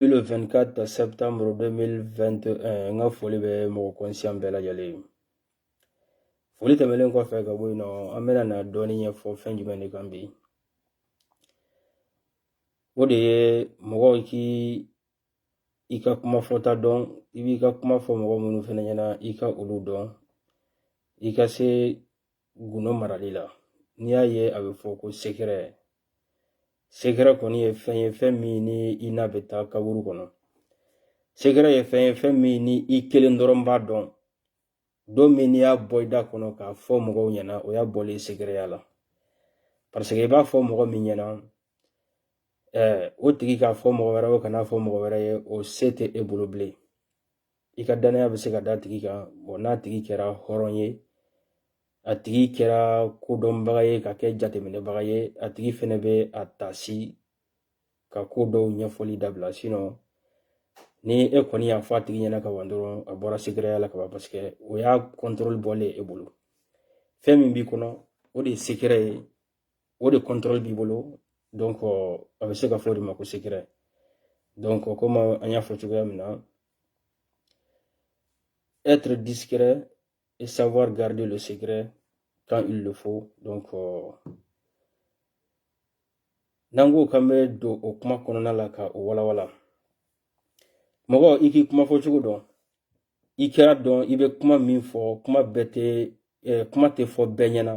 le 24 septembre 2021 n ka foli bɛ mɔgɔ kɔnsiyan bɛɛ lajɛlen foli tɛmɛnen kɔfɛ ka bɔ yen nɔ an bɛna na dɔɔni ɲɛfɔ fɛn jumɛn de kan bi o de ye mɔgɔ k'i ka kuma fɔta dɔn i b'i ka kuma fɔ mɔgɔ minnu fana ɲɛna i ka olu dɔn i ka se gundo marali la n'i y'a ye a bɛ fɔ ko sekɛrɛ sekɛrɛ kɔni ye fɛn ye fɛn min ni i n'a bɛ taa kaburu kɔnɔ sekɛrɛ ye fɛn ye fɛn min ni i kelen dɔrɔn b'a dɔn don min n'i y'a bɔ i da kɔnɔ k'a fɔ mɔgɔ ɲɛna o y'a bɔlen sekɛrɛya la pariseke i b'a fɔ mɔgɔ min ɲɛna o tigi k'a fɔ mɔgɔ wɛrɛ o kan'a fɔ mɔgɔ wɛrɛ ye o se tɛ e bolo bilen i ka dannaya bɛ se ka d'a tigi kan n'a tigi kɛra hɔrɔn ye a tigi kɛra kodɔnbaga ye ka kɛ jateminɛbaga ye a tigi fɛnɛ bɛ a taasi ka ko dɔw ɲɛfɔli dabila sinon ni e kɔni y'a fɔ a tigi ɲɛna ka ban dɔrɔn a bɔra sekɛrɛya la ka ban paseke o y'a contrôle bɔlen e bolo fɛn min b'i kɔnɔ o de ye sekɛrɛ ye o de contrôle b'i bolo donc a bɛ se ka fɔ o de ma ko secret donc comme an y'a fɔ cogoya min na être discret et savoir garder le secret quand il le faut donc euh, n'an ko k'an bɛ don o kuma kɔnɔna la ka o walawala mɔgɔ i k'i kuma fɔ cogo dɔn i kɛra dɔn i bɛ kuma min fɔ kuma bɛɛ tɛ kuma tɛ fɔ bɛɛ ɲɛna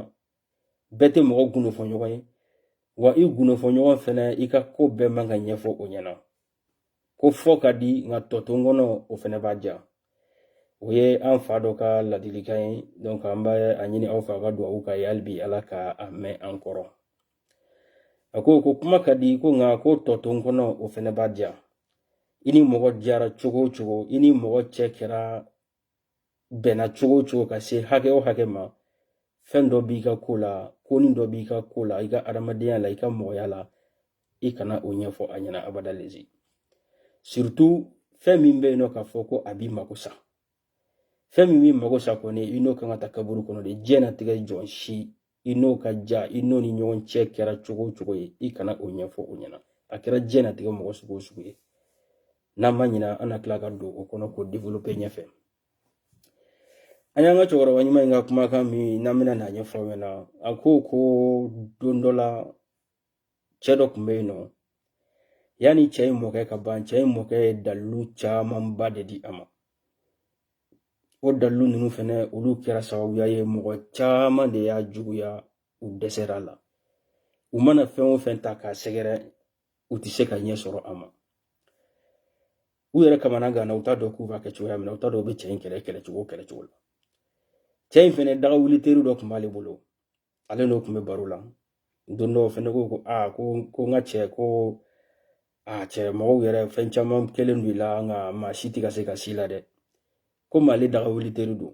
bɛɛ tɛ mɔgɔ gundo fɔ ɲɔgɔn ye wa i gundo fɔ ɲɔgɔn fɛnɛ i ka ko bɛɛ man ka ɲɛfɔ o ɲɛna ko fɔ ka di nka tɔ to n kɔnɔ o fɛnɛ b'a diya o ye an fa dɔ ka ladilikan ye donc an bɛ a ɲini aw fɛ aw ka dugawu k'a ye hali bi ala ka a mɛn an kɔrɔ a ko ko kuma ka di ko nka ko tɔ to n kɔnɔ o fɛnɛ b'a diya i ni mɔgɔ diyara cogo o cogo i ni mɔgɔ cɛ kɛra bɛnna cogo o cogo ka se hakɛ o hakɛ ma fɛn dɔ b'i ka ko la konin dɔ b'i ka ko la i ka adamadenya la i ka mɔgɔya la i kana o ɲɛfɔ a ɲɛna abada lezi surtout fɛn min bɛ yen nɔ k'a fɔ ko a b'i mako sa fɛn min b'i mako sa kɔni i n'o kan ka taa kaburu kɔnɔ de diɲɛnatigɛ jɔn si i n'o ka diya i n'o ni ɲɔgɔn cɛ kɛra cogo o cogo ye i kana o ɲɛfɔ o ɲɛna a kɛra diɲɛnatigɛ mɔgɔ sugu o sugu ye n'an ma ɲina an na tila ka don o kɔnɔ k'o develope ɲɛfɛ an y'an ka cɛkɔrɔba ɲuman in ka kumakan min n'an bɛna n'a ɲɛfɔ aw ɲɛna a ko ko don dɔ la cɛ dɔ kun bɛ yen nɔ yanni cɛ in mɔkɛ ka ban cɛ in mɔkɛ ye dalilu camanba de di a ma o dalilu ninnu fɛnɛ olu kɛra sababuya ye mɔgɔ caman de y'a juguya u dɛsɛra a la u mana fɛn o fɛn ta k'a sɛgɛrɛ u tɛ se ka ɲɛ sɔrɔ a ma u yɛrɛ kamana ganna u t'a dɔn k'u b'a kɛ cogoya min na u t'a dɔn u bɛ cɛ in kɛlɛ kɛlɛ cogo kɛlɛ cogo la cɛ in fɛnɛ daga wuli teri dɔ kun b'ale bolo ale n'o kun bɛ baro la don dɔ o fɛnɛ ko ko aa ko ko n ka cɛ ko a cɛ mɔgɔw yɛrɛ fɛn caman kɛlen don i la nka maa si tɛ ka se ka s'i la dɛ komi ale daga wuli teri don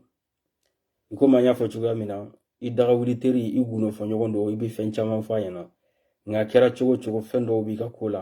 i komi an y'a fɔ cogoya min na i daga wuli teri i gundo fɔ ɲɔgɔn don i bɛ fɛn caman fɔ a ɲɛna nka kɛra cogo o cogo fɛn dɔw b'i ka ko la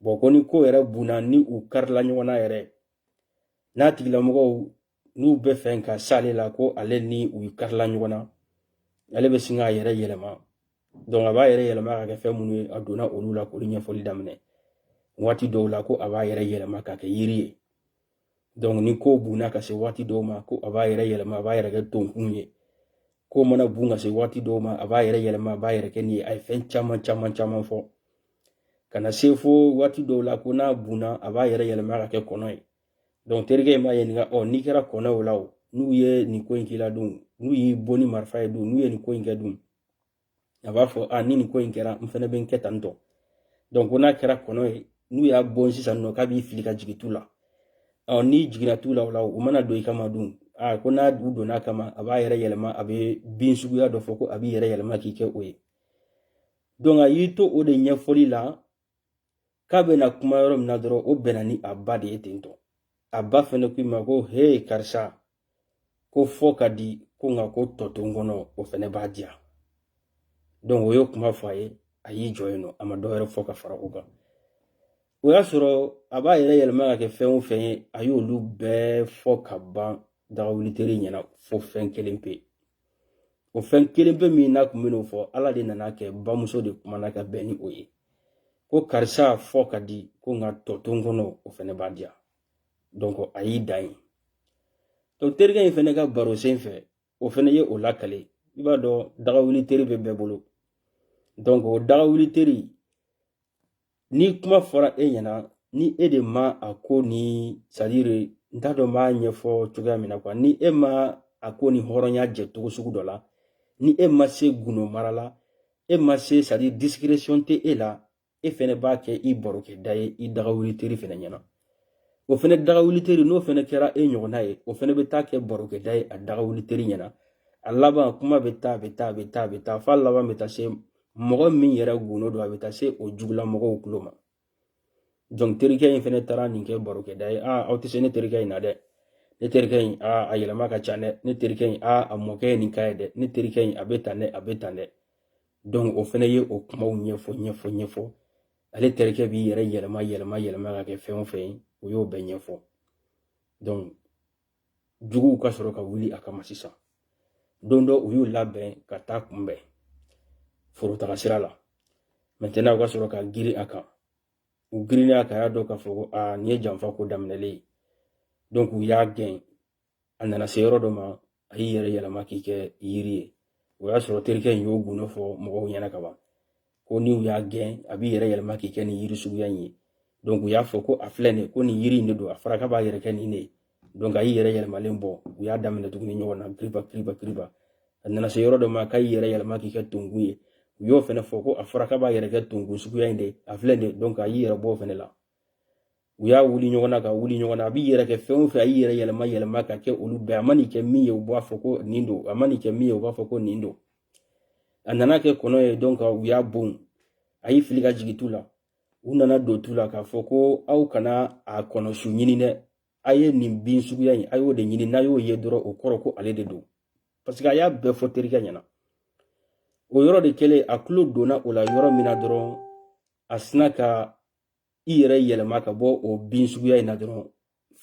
bon ko ni ko yɛrɛ bunna ni u karila ɲɔgɔn na yɛrɛ n'a tigilamɔgɔw n'u bɛ fɛ ka s'ale la ko ale ni u karila ɲɔgɔn na ale bɛ sin k'a yɛrɛ yɛlɛma donc a b'a yɛrɛ yɛlɛma ka kɛ fɛn minnu ye a donna olu la k'olu ɲɛfɔli daminɛ waati dɔw la ko a b'a yɛrɛ yɛlɛma ka kɛ yiri ye ni ko bunna ka se waati dɔw ma ko a b'a yɛrɛ yɛlɛma a b'a yɛrɛ kɛ tonkun ye ko mana bun ka se waati dɔw ma a b'a yɛrɛ yɛlɛma a b'a yɛrɛ kɛ nin ye a ye fɛn caman caman caman fɔ ka na se fo waati dɔw la ko n'a bunna a b'a yɛrɛ yɛlɛma ka kɛ kɔnɔ ye donc terikɛ in b'a ɲininka ɔ n'i kɛra kɔnɔ o la o n'u ye nin ko in k'i la dun n'u y'i bon ni marifa ye dun n'u ye nin ko in kɛ dun a b'a fɔ a ni nin ko in kɛra n fɛnɛ bɛ n kɛ tan tɔ donc ko n'a kɛra kɔnɔ ye n'u y'a bon sisan nɔ k'a b'i fili ka jigin tu la ɔ n'i jiginna tu la o la u mana don i kama dun a ko n'a u donn'a kama a b'a yɛrɛ yɛlɛma a bɛ bin suguya dɔ fɔ ko a b'i yɛrɛ yɛlɛma k'i kɛ o ye donc a y'i to o de ɲɛfɔli la k'a bɛna kuma yɔrɔ min na dɔrɔn o bɛnna ni a ba de ye ten tɔ a ba fɛnɛ ko i ma ko hee karisa ko fɔ ka di ko nka ko tɔ to n kɔnɔ o fɛnɛ b'a diya donc o ye kuma fɔ a ye a y'i jɔ yen nɔ a ma dɔ wɛrɛ fɔ ka fara o kan o y'a sɔrɔ a b'a yɛrɛ yɛlɛma ka kɛ fɛn o fɛn ye a y'olu bɛɛ fɔ ka ban dagawuli teri ɲɛna fo fɛn kelen pe o fɛn kelen pe min n'a kun bɛn'o fɔ ala de nan'a kɛ bamuso de kumana ka bɛn ni o ye ko karisa fɔ ka di ko nka tɔ to n kɔnɔ o fɛnɛ b'a diya donc a y'i dan yen donc terikɛ in fɛnɛ ka baro sen fɛ o fɛnɛ ye o lakale i b'a dɔn dagawuli teri bɛ bɛɛ bolo donc o dagawuli teri ni kuma fɔra e ɲɛna ni e de ma a ko ni c'est-à-dire n t'a dɔn n b'a ɲɛfɔ cogoya min na quoi ni e ma a ko ni hɔrɔnya jɛ cogo sugu dɔ la ni e ma se gundo mara la e ma se c'est-à-dire discrétion tɛ e la e fɛnɛ b'a kɛ i barokɛda ye i dagawuli teri fɛnɛ ɲɛna o fɛnɛ daga wuliteri n'o fɛnɛ kɛra e ɲɔgɔnna ye o fɛnɛ bɛ taa kɛ barokɛda ye a daga wuliteri ɲɛna a laban kuma bɛ taa a bɛ taa a bɛ taa a bɛ taa f'a laban bɛ taa se mɔgɔ min yɛrɛ gundo don a bɛ taa se o jugula mɔgɔw tulo ma donc terikɛ in fɛnɛ taara nin kɛ barokɛda ye aa aw tɛ se ne terikɛ in na dɛ ne terikɛ in aa a yɛlɛma ka ca dɛ ne terikɛ in aa a mɔkɛ ye nin ka ye dɛ ne terikɛ in a bɛ tan dɛ a bɛ tan dɛ donc o fɛnɛ ye o kumaw ɲɛfɔ ɲɛfɔ ɲɛfɔ ale terikɛ b'i yɛrɛ yɛlɛma yɛlɛma yɛlɛma ka kɛ fɛn o fɛn ye o y'o bɛɛ ɲɛfɔ juguw ka sɔrɔ ka wuli a kama sisan don dɔ u y'u labɛn ka t'a kunbɛn forotaga sira la maintenant u ka sɔrɔ ka girin a kan u girinnen a kan a y'a dɔn k'a fɔ ko aa nin ye janfa ko daminɛlen ye u y'a gɛn a nana se yɔrɔ dɔ ma a y'i yɛrɛ yɛlɛma k'i kɛ yiri ye o y'a sɔrɔ terikɛ in y'o gundo fɔ mɔgɔw ɲɛna ka ban ko ni u y'a gɛn a b'i yɛrɛ yɛlɛma k'i kɛ nin yiri suguya in ye donc u y'a fɔ ko a filɛ nin ko nin yiri in de don a fɔra k'a b'a yɛrɛ kɛ nin de ye donc a y'i yɛrɛ yɛlɛmalen bɔ u y'a daminɛ tuguni ɲɔgɔn na piriba piriba piriba a nana se yɔrɔ dɔ ma k'a y'i yɛrɛ yɛlɛma k'i kɛ tonkun ye u y'o fɛnɛ fɔ ko a fɔra k'a b'a yɛrɛ kɛ tonkun suguya in de a filɛ nin ye donc a y'i yɛrɛ bɔ o fɛnɛ la u y'a wuli ɲɔgɔn na ka wuli ɲɔgɔn na a b'i yɛrɛ kɛ fɛn o fɛn a y'i yɛrɛ yɛlɛma yɛlɛma ka kɛ olu bɛɛ a man'i kɛ min ye u b'a fɔ ko nin don a man'i kɛ min ye u b'a fɔ ko nin don a nana kɛ kɔnɔ ye donc u y'a bon a y'i fili ka jigin tu la u nana don tu la k'a fɔ ko aw kana a kɔnɔsu ɲini dɛ a ye nin bin suguya in a y'o de ɲini n'a y'o ye dɔrɔn o kɔrɔ ko ale de don parce que a y'a bɛɛ fɔ terikɛ ɲɛna o yɔrɔ de kɛlen a tulo donna o la yɔrɔ min na dɔrɔn a sina ka i yɛrɛ yɛlɛma ka bɔ o bin suguya in na dɔrɔn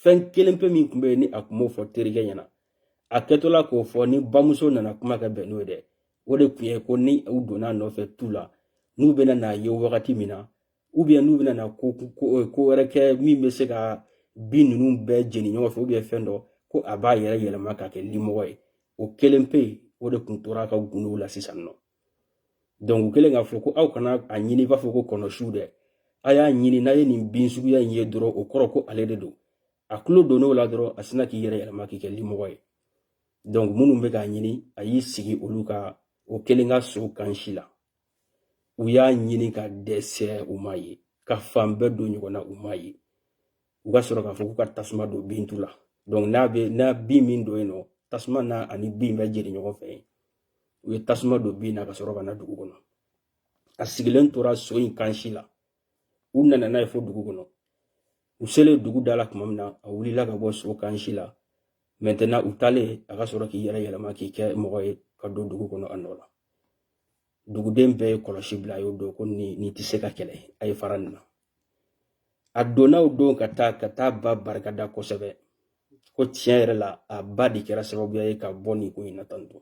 fɛn kelen pe min tun bɛ yen ni a tun m'o fɔ terikɛ ɲɛna a kɛtɔla k'o fɔ ni bamuso nana kuma kɛ bɛn n'o ye dɛ o de tun ye ko ni u donn'a nɔfɛ tu la n'u bɛna n'a ye wagati min na ou bien n'u bɛna na ko ko wɛrɛ kɛ min bɛ se ka bin ninnu bɛɛ jeni ɲɔgɔn fɛ ou bien fɛn dɔ ko a b'a yɛrɛ yɛlɛma ka kɛ limɔgɔ ye o kelen pe o de tun tor'a ka gundow la sisan nɔ donc u kɛlen k'a fɔ ko aw kana a ɲini i b'a fɔ ko kɔnɔsiw dɛ a y'a ɲini n'a ye nin bin suguya in ye dɔrɔn o kɔrɔ ko ale de don a tulo donn'o la dɔrɔn a sina k'i yɛrɛ yɛlɛma k'i kɛ limɔgɔ ye donc minnu bɛ k'a ɲini a y'i sigi olu ka o kelen ka so kansi la u y'a ɲini ka dɛsɛ u m'a ye ka fan bɛɛ don ɲɔgɔn na u m'a ye u ka sɔrɔ k'a fɔ k'u ka tasuma don bin tu la n'a bɛ n'a bin min don yen nɔ tasuma n'a ani bin bɛ jeni ɲɔgɔn fɛ yen u ye tasuma don bin na ka sɔrɔ ka na dugu kɔnɔ a sigilen tora so in kansi la u nana n'a ye fo dugu kɔnɔ u selen dugu da la tuma min na a wulila ka bɔ so kansi la maintenant u taalen a ka sɔrɔ k'i yɛrɛ yɛlɛma k'i kɛ mɔgɔ ye ka don dugu kɔnɔ a nɔ la duguden bɛɛ ye kɔlɔsi bila a y'o dɔn ko nin nin tɛ se ka kɛlɛ a ye fara nin na a donna o don ka taa ka taa ba barikada kosɛbɛ ko tiɲɛ yɛrɛ la a ba de kɛra sababuya ye ka bɔ nin ko in na tan tɔ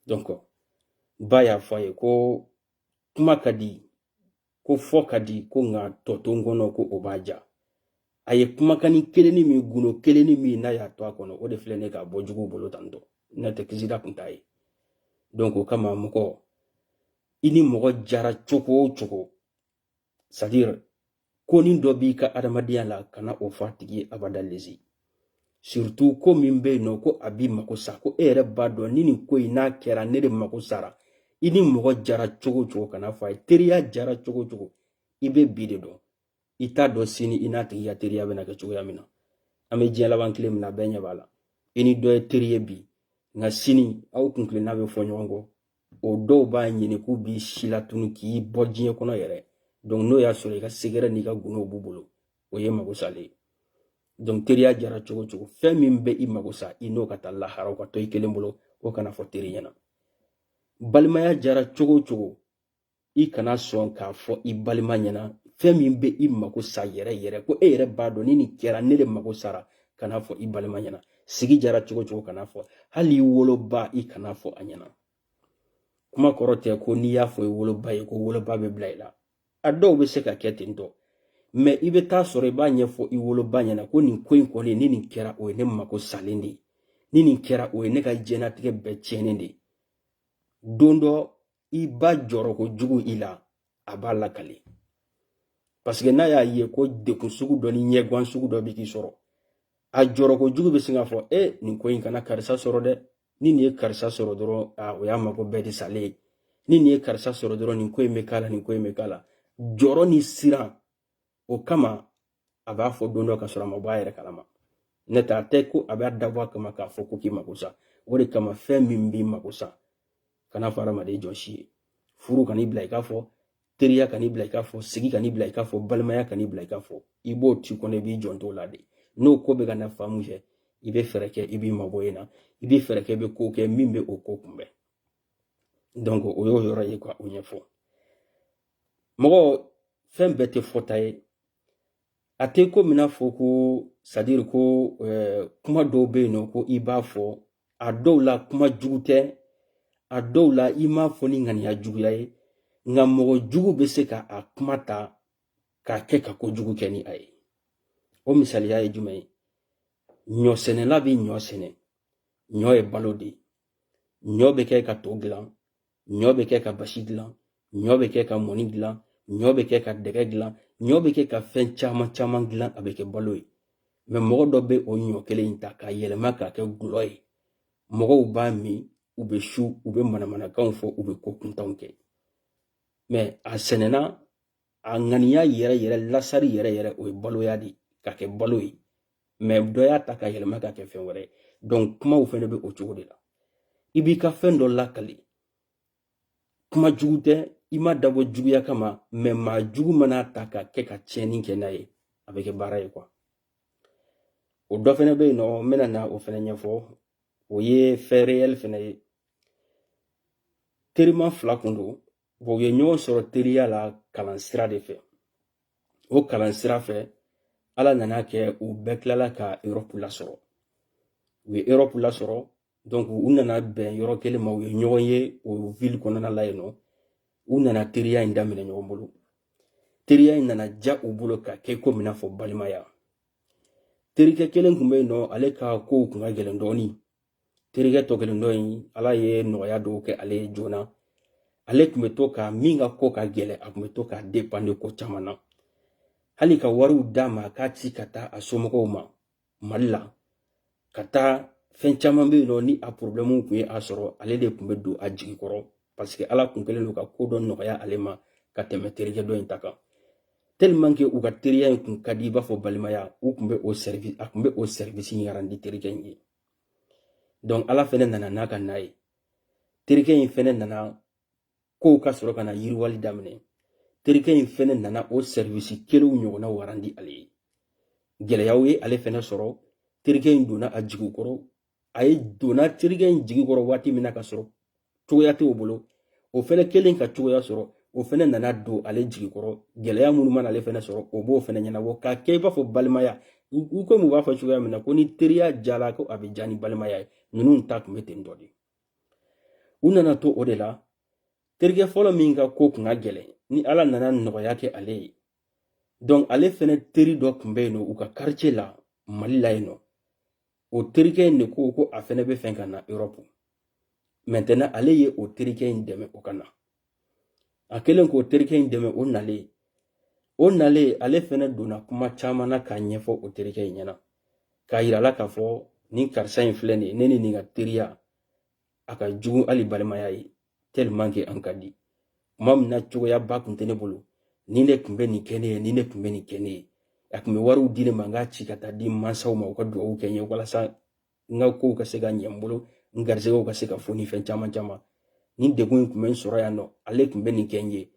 donc ba y'a fɔ a ye ko kuma ka di ko fɔ ka di ko nka tɔ to n kɔnɔ ko o b'a ja a ye kumakanni kelenni min gundo kelenni min n'a y'a to a kɔnɔ o de filɛ ne ka bɔ juguw bolo tan tɔ n'o tɛ kisida kun t'a ye donc o kama mɔgɔ i ni mɔgɔ jara cogo o cogo c'est à dire konin dɔ b'i ka adamadenya la kana o fɔ a tigi ye abada lezi surtout ko min bɛ yen nɔ ko a b'i mako sa ko e yɛrɛ b'a dɔn ni nin ko in n'a kɛra ne de mako sara i ni mɔgɔ jara cogo cogo kana fɔ a ye teriya jara cogo cogo i bɛ bi de dɔn i t'a dɔn sini i n'a tigi ka teriya bɛna kɛ cogoya min na an bɛ diɲɛ laban tile min na bɛɛ ɲɛ b'a la i ni dɔ ye teri ye bi nka sini aw kuntilenna bɛ fɔ ɲɔgɔn kɔ o dɔw b'a ɲini k'u b'i silatunu k'i bɔ diɲɛ kɔnɔ yɛrɛ donc n'o y'a sɔrɔ i ka secret n'i ka gundo b'u bolo o ye mago salen ye donc teriya jara cogo cogo fɛn min bɛ i mago sa i n'o ka taa lahara o ka to i kelen bolo o kana fɔ teri ɲɛna balimaya jara cogo cogo i kana sɔn k'a fɔ i balima ɲɛna fɛn min bɛ i mako sa yɛrɛ yɛrɛ ko e yɛrɛ b'a dɔn ni nin kɛra ne de mako sara kana fɔ i balima ɲɛna sigi jara cogo cogo kana fɔ hali i woloba i kana fɔ a ɲɛna kuma kɔrɔ tɛ ko n'i y'a fɔ i woloba ye ko woloba bɛ bila i la a dɔw bɛ se ka kɛ ten tɔ mais i bɛ taa sɔrɔ i b'a ɲɛfɔ i woloba ɲɛna ko nin ko in kɔni ni nin kɛra o ye ne mako salen de ye ni nin kɛra o ye ne ka diɲɛlatigɛ bɛɛ tiɲɛnen de ye don dɔ i ba jɔrɔ kojugu i la a b'a lakale parce que n'a y'a ye ko degun sugu dɔ ni ɲɛgwan sugu dɔ bɛ k'i sɔrɔ a jɔrɔ kojugu bɛ sin k'a fɔ e nin ko in kana karisa sɔrɔ dɛ ni nin ye karisa sɔrɔ dɔrɔn a o y'a mako bɛɛ de salen ye ni nin ye karisa sɔrɔ dɔrɔn nin ko in bɛ k'a la nin ko in bɛ k'a la jɔrɔ ni siran o kama a b'a fɔ don dɔ ka sɔrɔ a ma bɔ a yɛrɛ kalama n'o t'a tɛ ko a b'a dabɔ a kama k'a fɔ ko k'i mako sa o de kama fɛn min b'i mako sa kana fɔ adamaden jɔn si ye furu kan'i bila i k'a fɔ teriya kan'i bila i k'a fɔ sigi kan'i bila i k'a fɔ balimaya kan'i bila i k'a fɔ i b'o to i kɔnɔ i b'i jan t'o la de n'o ko bɛ ka na fan min fɛ i bɛ fɛɛrɛ kɛ i b'i mabɔ yen na i bɛ fɛɛrɛ kɛ i bɛ ko kɛ min bɛ o ko kunbɛn o y'o yɔrɔ ye ka o ɲɛfɔ mɔgɔ fɛn bɛɛ tɛ fɔta ye a tɛ komi i n'a fɔ ko c'est à dire ko eh, kuma dɔw bɛ yen nɔ ko i b'a fɔ a dɔw la kuma jugu tɛ a dɔw la i m'a fɔ ni ŋaniya juguya ye nka mɔgɔ jugu bɛ se ka a kuma ta k'a kɛ ka ko jugu kɛ ni a ye o misaliya ye jumɛn ye ɲɔsɛnɛla bɛ ɲɔ sɛnɛ ɲɔ ye balo de ye ɲɔ bɛ kɛ ka to dilan ɲɔ bɛ kɛ ka basi dilan ɲɔ bɛ kɛ ka mɔni dilan ɲɔ bɛ kɛ ka dɛgɛ dilan ɲɔ bɛ kɛ ka fɛn caman caman dilan a bɛ kɛ balo ye mɛ mɔgɔ dɔ bɛ o ɲɔ kelen in ta k'a yɛlɛma k'a kɛ gulɔ ye mɔgɔw b'a min u bɛ su u bɛ manamanakanw fɔ u bɛ ko kuntanw kɛ mɛ a sɛnɛna a ŋaniya yɛrɛ yɛrɛ lasari yɛrɛ yɛrɛ o ye baloya de k'a kɛ balo ye mɛ dɔ y'a ta k'a yɛlɛma k'a kɛ fɛn wɛrɛ ye donc kumaw fɛnɛ bɛ o cogo de la i b'i ka fɛn dɔ lakali kuma jugu tɛ i m'a dabɔ juguya kama mɛ maa jugu man'a ta k'a kɛ ka tiɲɛni kɛ n'a ye a bɛ kɛ baara ye quoi o dɔ fɛnɛ bɛ yen nɔ n bɛna na o fɛnɛ ɲɛfɔ o ye fɛn réel fɛnɛ ye terima fila kun don u ye ɲɔgɔn sɔrɔ teriya la kalan sira de fɛ o kalan sira fɛ ala nan'a kɛ u bɛɛ tilala ka europe lasɔrɔ u ye europe lasɔrɔ donc u nana bɛn yɔrɔ kelen ma u ye ɲɔgɔn ye o ville kɔnɔna la yen nɔ u nana teriya in daminɛ ɲɔgɔn bolo teriya in nana ja u bolo ka kɛ komi n'a fɔ balimaya terikɛ kelen tun bɛ yen nɔ ale ka kow tun ka gɛlɛn dɔɔnin terikɛ tɔ kelen dɔ in ala ye nɔgɔya dɔw kɛ ale ye joona ale tun bɛ to ka min ka ko ka gɛlɛn a tun bɛ to k'a dépanner ko caman na hali ka wariw d'a ma k'a ci ka taa a somɔgɔw ma mali la ka taa fɛn caman bɛ yen nɔ ni a porobilɛmu tun ye a sɔrɔ ale de tun bɛ don a jigi kɔrɔ paseke ala tun kɛlen don ka ko dɔ nɔgɔya ale ma ka tɛmɛ terikɛ dɔ in ta kan tellement que u ka teriya in kun ka di i b'a fɔ balimaya u kun bɛ o service a kun bɛ o service in arandi terikɛ in ye donc ala fɛnɛ nana n'a ka n'a ye terikɛ in fɛnɛ nana kow ka sɔrɔ ka na yiriwali daminɛ terikɛ in fɛnɛ nana o sɛriwisi kelenw ɲɔgɔnnaw arandi ale ye gɛlɛyaw ye ale fɛnɛ sɔrɔ terikɛ in donna a jigi kɔrɔ ale donna terikɛ in jigi kɔrɔ waati min na ka sɔrɔ cogoya t'o bolo o fɛnɛ kɛlen ka cogoya sɔrɔ o fɛnɛ nana don ale jigi kɔrɔ gɛlɛya minnu mana ale fɛnɛ sɔrɔ o b'o fɛnɛ ɲɛnabɔ k'a kɛ i b'a fɔ balimaya u komi u b'a fɔ cogoya min na ko ni teriya jala ko a bɛ ja ni balimaya ye ninnu ta tun bɛ ten dɔ de u nana to o de la terikɛ fɔlɔ min ka ko kun ka gɛlɛn ni ala nana nɔgɔya kɛ ale ye donc ale fɛnɛ teri dɔ tun bɛ yen nɔ u ka quartier la mali la yen nɔ o terikɛ in de ko ko a fɛnɛ b'a fɛ ka na europe maintenant ale ye o terikɛ in dɛmɛ o ka na a kɛlen k'o terikɛ in dɛmɛ o nalen o nalen ale fɛnɛ donna kuma caman na k'a ɲɛfɔ o terikɛ in ɲɛ na k'a yir'a la k'a fɔ nin karisa in filɛ nin ye ne ni nin ka teriya a ka jugu hali balimaya ye tellement que an ka di tuma min na cogoyaba tun tɛ ne bolo nin tun bɛ nin kɛ ne ye nin tun bɛ nin kɛ ne ye a tun bɛ wariw di ne ma n k'a ci ka taa di n mansaw ma u ka dugawu kɛ n ye walasa n ka kow ka se ka ɲɛ n bolo n garisɛgɛw ka se ka foni fɛn caman caman nin degun in tun bɛ n sɔrɔ yan nɔ ale tun bɛ nin kɛ n ye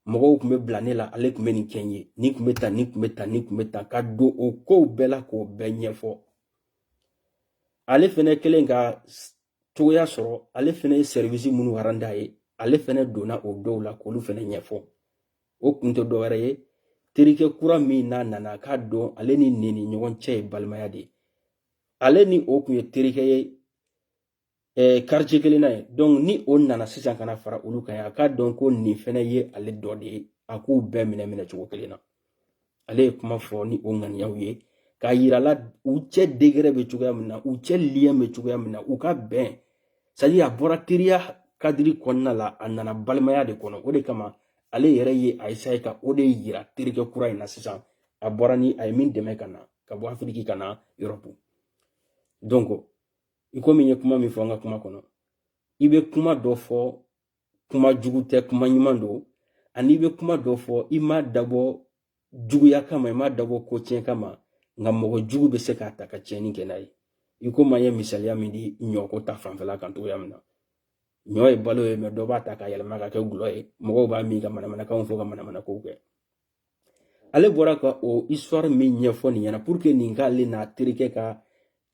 mɔgɔw tun bɛ bila ne la ale tun bɛ nin kɛ n ye nin tun bɛ tan nin tun bɛ tan nin tun bɛ tan ka don o kow bɛɛ la k'o bɛɛ ɲɛfɔ ale fɛnɛ kɛlen ka cogoya sɔrɔ ale fɛnɛ ye sɛriwisi minnu arandi a ye ale fɛnɛ donna o dɔw la k'olu fɛnɛ ɲɛfɔ o kun tɛ dɔwɛrɛ ye terikɛ kura min n'a nana a k'a dɔn ale ni nin ni ɲɔgɔn cɛ ye balimaya de ye ale ni o tun ye terikɛ ye ɛɛ quartier kelen na ye donc ni o nana sisan ka na fara olu kan ye a k'a dɔn ko nin fɛnɛ ye ale dɔ de ye a k'u bɛɛ minɛ minɛ cogo kelen na ale ye kuma fɔ ni o ŋaniyaw ye k'a yirala u cɛ degɛrɛ bɛ cogoya min na u cɛ liyɛn bɛ cogoya min na u ka bɛn sadi a bɔra teriya kadiri kɔnɔna la a nana balimaya de kɔnɔ o de kama ale yɛrɛ ye a ye ka o de yira terikɛ kura in na sisan a bɔra ni a ye min dɛmɛ ka na ka bɔ afiriki ka na erɔpu donc i komi n ye kuma min fɔ an ka kuma kɔnɔ i bɛ kuma dɔ fɔ kuma jugu tɛ kuma ɲuman don ani i bɛ kuma dɔ fɔ i m'a dabɔ juguya kama i m'a dabɔ ko tiɲɛ kama nka mɔgɔ jugu bɛ se k'a ta ka tiɲɛni kɛ n'a ye i komi an ye misaliya min di ɲɔko ta fanfɛla kan cogoya min na ɲɔ ye balo ye mɛ dɔ b'a ta ka yɛlɛma ka kɛ dɔlɔ ye mɔgɔw b'a min ka manamanakanw fɔ ka manamanakow kɛ ale bɔra ka o histoire min ɲɛfɔ nin ɲɛna pour que nin k'ale n'a terikɛ ka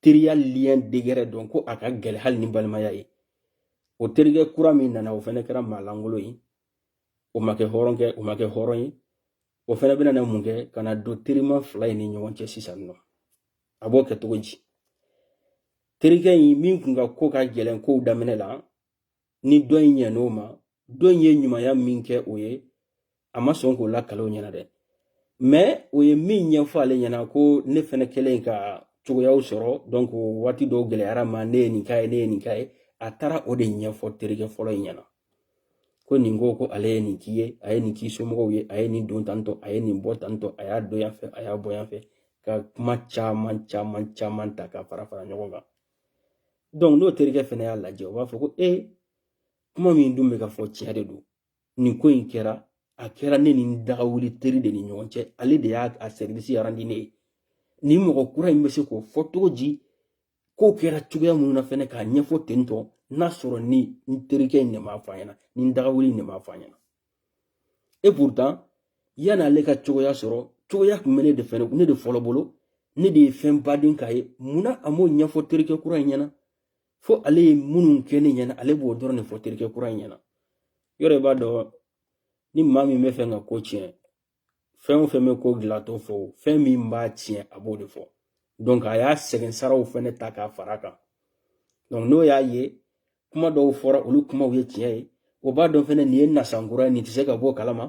teriya liyɛn degɛrɛ dɔn ko a ka gɛlɛn hali ni balimaya ye o terikɛ kura min nana o fɛnɛ kɛra maalankolon ye o ma kɛ hɔrɔn kɛ o ma kɛ hɔrɔn ye o fɛnɛ bɛna na mun kɛ ka na don terima fila in ni ɲɔgɔn cɛ sisan nɔ a b'o kɛ cogo di terikɛ in min kun ka ko ka gɛlɛn kow daminɛ la ni dɔ in ɲɛn'o ma dɔ in ye ɲumanya min kɛ o ye a ma sɔn k'o lakale o ɲɛna dɛ mɛ o ye min ɲɛfɔ ale ɲɛna ko ne fɛnɛ kɛlen ka cogoyaw sɔrɔ donc waati dɔw gɛlɛyara a ma ne ye nin k'a ye ne ye nin k'a ye a taara o de ɲɛfɔ terikɛ fɔlɔ in ɲɛna ko nin ko ko ale ye nin k'i ye a ye nin k'i somɔgɔw ye a ye nin don tantɔ a ye nin bɔ tantɔ a y'a don yan fɛ a y'a bɔ yan fɛ ka kuma caman caman caman ta ka fara fara ɲɔgɔn kan n'o terikɛ fɛnɛ y'a lajɛ o b'a fɔ ko ee kuma min dun bɛ ka fɔ tiɲɛ de don nin ko in kɛra a kɛra ne ni n dagawuli teri de ni ɲɔgɔn cɛ ale de y'a sɛriwisi arandi ne ye nin mɔgɔ kura in bɛ se k'o fɔ cogo di kow kɛra cogoya minnu na fɛnɛ k'a ɲɛfɔ ten tɔ n'a sɔrɔ ni n terikɛ in de m'a fɔ a ɲɛna ni n dagawuli in de m'a fɔ a ɲɛna et pourtant yan'ale ka cogoya sɔrɔ cogoya kun bɛ ne de fɛ ne de fɔlɔ bolo ne de ye fɛnba de k'a ye munna a m'o ɲɛfɔ terikɛ kura in ɲɛna fo ale ye minnu kɛ ne ɲɛna ale b'o dɔrɔn de fɔ terikɛ kura in ɲɛna yɔrɔ i b'a dɔn ni maa min bɛ fɛ ka ko tiɲɛ fɛn o fɛn bɛ ko dilan a t'o fɔ fɛn min b'a tiɲɛ a b'o de fɔ donc a y'a sɛgɛn saraw fɛnɛ ta k'a fara kan donc n'o y'a ye kuma dɔw fɔra olu kumaw ye tiɲɛ ye o b'a dɔn fɛnɛ nin ye nasankura ye nin tɛ se ka b'o kalama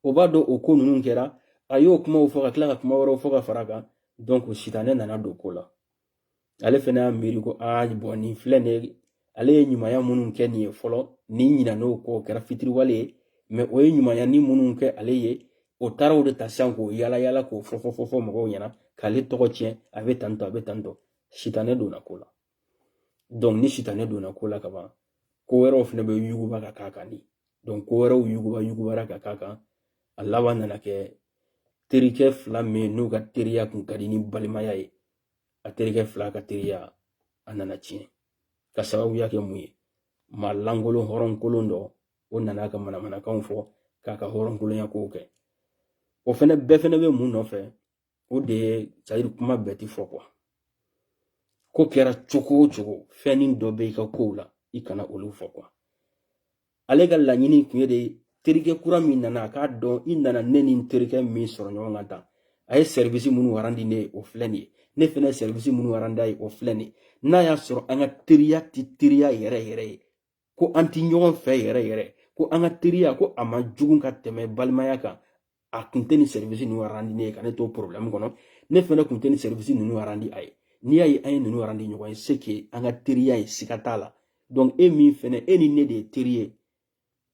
o b'a dɔn o ko ninnu kɛra a y'o kumaw fɔ ka tila ka kuma wɛrɛw fɔ ka fara kan donc sitanɛ nana don ko la ale fɛnɛ y'a miiri ko aa bɔn nin filɛ nin ye ale ye ɲumanya minnu kɛ nin ye fɔlɔ nin ɲinan'o kɔ o kɛra fitiriwale ye mɛ o ye ɲumanya ni minnu kɛ ale ye o taara o de ta sisan k'o yala yala k'o fɔ fɔ fɔ fɔ mɔgɔw ɲɛna k'ale tɔgɔ tiɲɛ a bɛ tan tɔ a bɛ tan tɔ sitanɛ donna ko la dɔnku ni sitanɛ donna ko la kaban ko wɛrɛw fɛnɛ bɛ yuguba ka k'a kan de dɔnku ko wɛrɛw yuguba yugubara ka k'a kan a laban nana kɛ terikɛ fila minnu ka teriya kun ka di ni balimaya ye a terikɛ fila ka teriya a nana tiɲɛ ka sababuya kɛ mun ye maa lankolon hɔrɔn kolon dɔ o nana ka manamanakanw fɔ k'a ka hɔrɔn kolonya kow kɛ o fɛnɛ bɛɛ fɛnɛ bɛ mun nɔfɛ o de ye c'est-à-dire kuma bɛɛ ti fɔ quoi ko kɛra cogo o cogo fɛnnin dɔ bɛ i ka kow la i kana olu fɔ quoi ale ka laɲini tun ye de terikɛ kura min nana a k'a dɔn i nana ne ni n terikɛ min sɔrɔ ɲɔgɔn kan tan a ye sɛribisi minnu warandi ne ye o filɛ nin ye ne fɛnɛ ye sɛribisi minnu warandi a ye o filɛ nin ye n'a y'a sɔrɔ an ka teriya tɛ teriya yɛrɛ yɛrɛ ye ko an tɛ ɲɔgɔn fɛ yɛrɛ yɛrɛ ko an ka teriya ko a man jugu ka tɛmɛ balimaya kan a kun tɛ nin sɛribisi ninnu arandi ne ye ka ne to porobilɛmu kɔnɔ ne fɛnɛ kun tɛ nin sɛribisi ninnu arandi a ye n'i y'a ye an ye ninnu arandi ɲɔgɔn ye c'est que an ka teriya ye siga t'a la donc e min fɛnɛ e ni ne de ye teri ye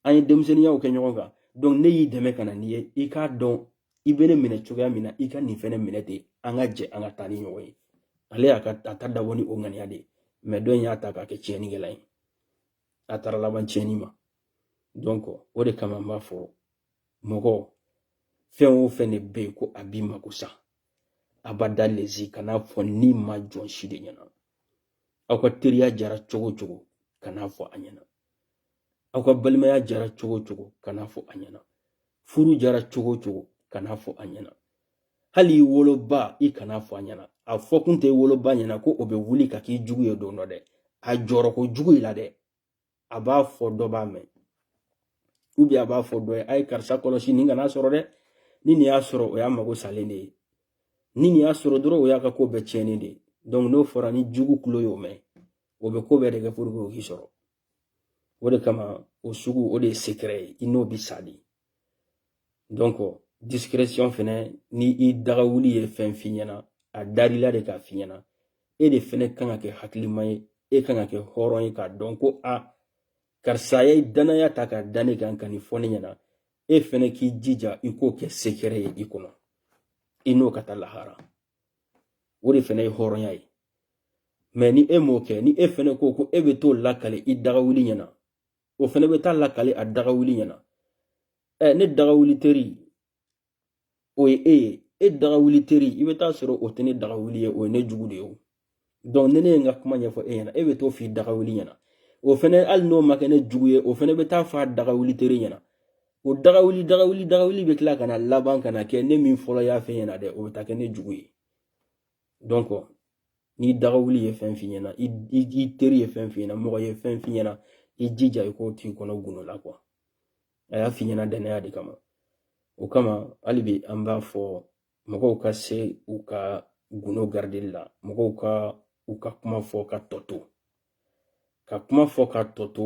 an ye denmisɛnniyaw kɛ ɲɔgɔn kan donc ne y'i dɛmɛ ka na n'i ye i k'a dɔn i bɛ ne minɛ cogoya min na i ka nin fɛnɛ minɛ ten an ka jɛ an ka taa ni ɲɔgɔn ye ale y'a ka a ta dabɔ ni o ŋaniya de ye mɛ dɔ in y'a ta k'a kɛ tiɲɛnikɛla ye a taara laban tiɲɛni ma donc o de kama n b'a fɔ mɔgɔ fɛn o fɛn de bɛ yen ko a b'i mako sa a b'a da lezi kan'a fɔ nima jɔn si de ɲɛna aw ka teriya jara cogo cogo kan'a fɔ a ɲɛna aw ka balimaya jara cogo cogo kan'a fɔ a ɲɛna furu jara cogo cogo kan'a fɔ a ɲɛna hali i woloba i kan'a fɔ a ɲɛna a fɔkun tɛ i woloba ɲɛna ko o bɛ wuli ka k'i jugu ye don dɔ dɛ a jɔrɔ ko jugu i la dɛ a b'a fɔ dɔ b'a mɛn a b'a fɔ dɔ ye a ye karisa kɔlɔsi nin kan'a sɔrɔ dɛ ni nin y'a sɔrɔ o y'a mago salen de ye ni nin y'a sɔrɔ dɔrɔn o y'a ka ko bɛɛ tiɲɛnen de ye n'o fɔra n'i jugu kulo y'o mɛn o bɛ ko bɛɛ de kɛ o k'i sɔrɔ o de kama o sugu o de ye ye i n'o bɛ sa de donc discrétion fɛnɛ ni i daga wuli ye fɛn f'i ɲɛna a dar'i la de k'a f'i ɲɛna e de fɛnɛ kan ka kɛ hakilima ye e kan ka kɛ hɔrɔn ye k'a dɔn ko a karisa ye danaya ta k'a da ne kan ka nin fɔ ne ɲɛna e fɛnɛ k'i jija i k'o kɛ secret ye i kɔnɔ i n'o ka taa lahara o de fɛnɛ ye hɔrɔnya ye mais ni e m'o kɛ ni e fɛnɛ ko ko e bɛ t'o lakali i dagawuli ɲɛna o fɛnɛ bɛ t'a lakali a daga wuli ɲɛna ɛ ne daga wuli teri o ye e ye e daga wuli teri i bɛ t'a sɔrɔ o tɛ ne daga wuli ye o ye ne jugu de ye o dɔnku ni ne ye n ka kuma ɲɛfɔ e ɲɛna e bɛ t'o f'i daga wuli ɲɛna o fɛnɛ hali n'o ma kɛ ne jugu ye o fɛnɛ bɛ t'a f'a daga wuli teri ɲɛna o daga wuli daga wuli daga wuli bɛ tila ka na laban ka na kɛ ne min fɔlɔ y'a f'e ɲɛna dɛ o bɛ taa kɛ ne jugu ye dɔnku n'i daga wuli ye fɛn f'i ɲɛna i teri ye fɛn f'i ɲɛna mɔgɔ ye fɛn f'i ɲɛna i jija i k'o t'i kɔnɔ gundo la kuwa a y'a f'i ɲɛna dannaya de kama o kama hali bi an b'a fɔ mɔgɔw ka se u ka gundo garideli la mɔgɔw ka u ka kuma fɔ ka tɔ to ka kuma fɔ ka tɔ to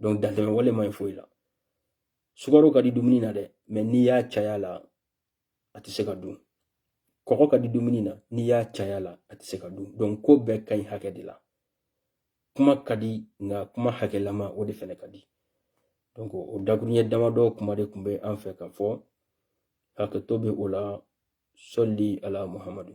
Donc dantɛmɛ wale man ɲi foyi la. Sukaro ka di dumuni na dɛ, mais n'i y'a cay'a la, a tɛ se ka dun. Kɔgɔ ka di dumuni na, n'i y'a cay'a la, a tɛ se ka dun. Donc ko bɛɛ ka ɲi hakɛ de la. Kuma ka di nka kuma hakɛlama o de fɛnɛ ka di. Donc o dakuruɲɛ damadɔ kuma de tun bɛ an fɛ ka fɔ hakɛto bɛ o la sɔli ala muhamadu